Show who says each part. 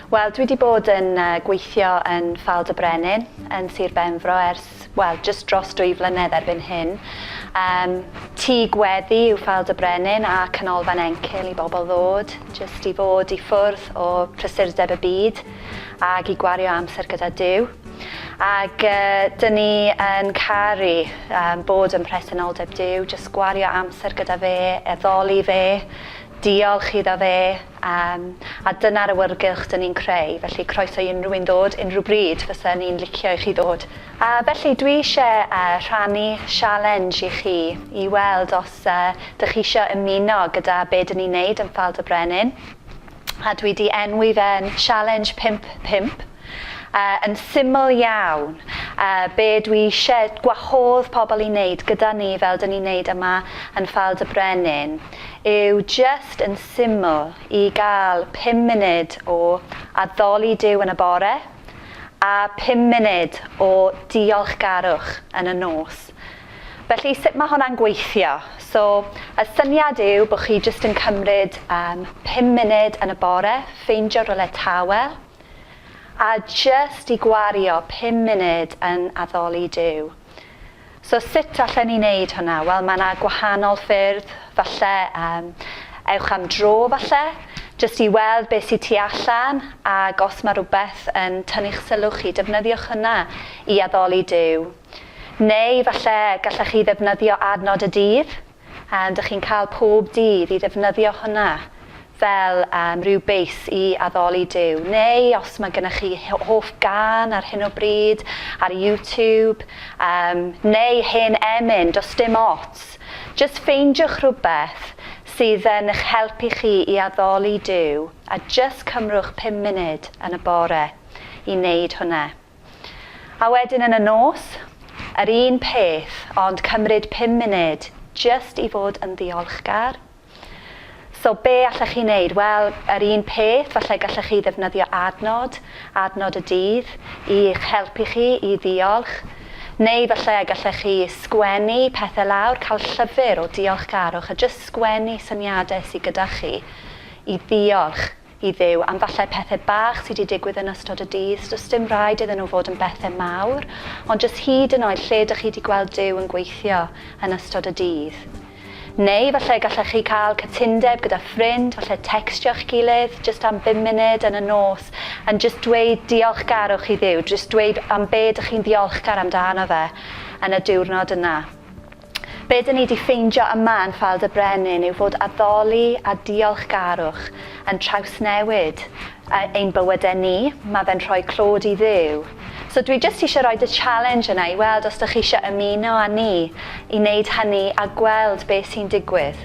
Speaker 1: Wel, dwi wedi bod yn uh, gweithio yn Ffald de Brenin yn Sir Benfro ers, wel, just dros dwy flynedd erbyn hyn. Um, tŷ gweddi yw Ffald de Brenin a canolfan encil i bobl ddod, just i fod i ffwrdd o prysurdeb y byd ag i gwario amser gyda Dyw. Ac dyn ni yn caru bod ym mhresenoldeb Duw, jyst gwario amser gyda fe, addoli fe, diolch iddo fe, a dyna'r awyrgylch dyn ni'n creu, felly croeso i unrhyw un ddod, unrhyw bryd fysa ni'n licio i chi ddod. A felly dwi ishe rhannu sialens i chi i weld os dych chi isho ymuno gyda be dyn ni'n neud yn Ffael-dy-Brenin. a dwi 'di enwi fe'n Challenge Pump Pump, yy yn syml iawn yy be' dwi isie gwahodd pobl i neud gyda ni fel 'dyn ni'n neud yma yn Ffald y Brenin yw jyst yn syml i ga'l pum munud o addoli Duw yn y bore a pum munud o diolchgarwch yn y nos. Felly sut mae hwnna'n gweithio? So, y syniad yw bod chi jyst yn cymryd um, pum munud yn y bore, ffeindio rywle tawel, a jyst i gwario pum munud yn addoli Duw. So sut allen ni wneud hwnna? Wel, mae yna gwahanol ffyrdd, falle um, ewch am dro falle, jyst i weld beth sydd tu allan, ac os mae rhywbeth yn tynnu'ch sylw chi, defnyddiwch hwnna i addoli Duw. Neu falle gallech chi ddefnyddio adnod y dydd, yym, dych chi'n cael pob dydd i ddefnyddio hwnna fel um, rhyw beis i addoli Duw. Neu os mae gennych chi hoff gan ar hyn o bryd ar YouTube, um, neu hen emyn, does dim ots. Just ffeindiwch rhywbeth sydd yn eich helpu chi i addoli Duw a just cymrwch pum munud yn y bore i wneud hwnna. A wedyn yn y nos, yr un peth, ond cymryd pum munud jyst i fod yn ddiolchgar. So be allech chi wneud? Wel, yr un peth, falle gallech chi ddefnyddio adnod, adnod y dydd, i eich helpu chi i ddiolch. Neu falle gallech chi sgwennu pethau lawr, cael llyfr o diolchgarwch a jyst sgwennu syniadau sydd gyda chi i ddiolch. i Dduw am falle pethe bach sy 'di digwydd yn ystod y dydd, so does dim raid iddyn nhw fod yn bethe mawr, ond jyst hyd yn oed lle dych chi 'di gweld Duw yn gweithio yn ystod y dydd. Neu falle gallech chi cael cytundeb gyda ffrind, falle tecstio'ch gilydd jyst am bum munud yn y nos yn jyst dweud diolchgarwch i Dduw, jyst dweud am be dych chi'n ddiolchgar amdano fe yn y diwrnod yna. Be' 'dyn ni 'di ffeindio yma yn Ffael dy Brenin yw fod addoli a diolchgarwch yn trawsnewid yy ein bywyde ni, ma' fe'n rhoi clod i Dduw. So dwi jyst isie roid y challenge yna i weld os 'dych chi isie ymuno â ni i neud hynny a gweld be' sy'n digwydd.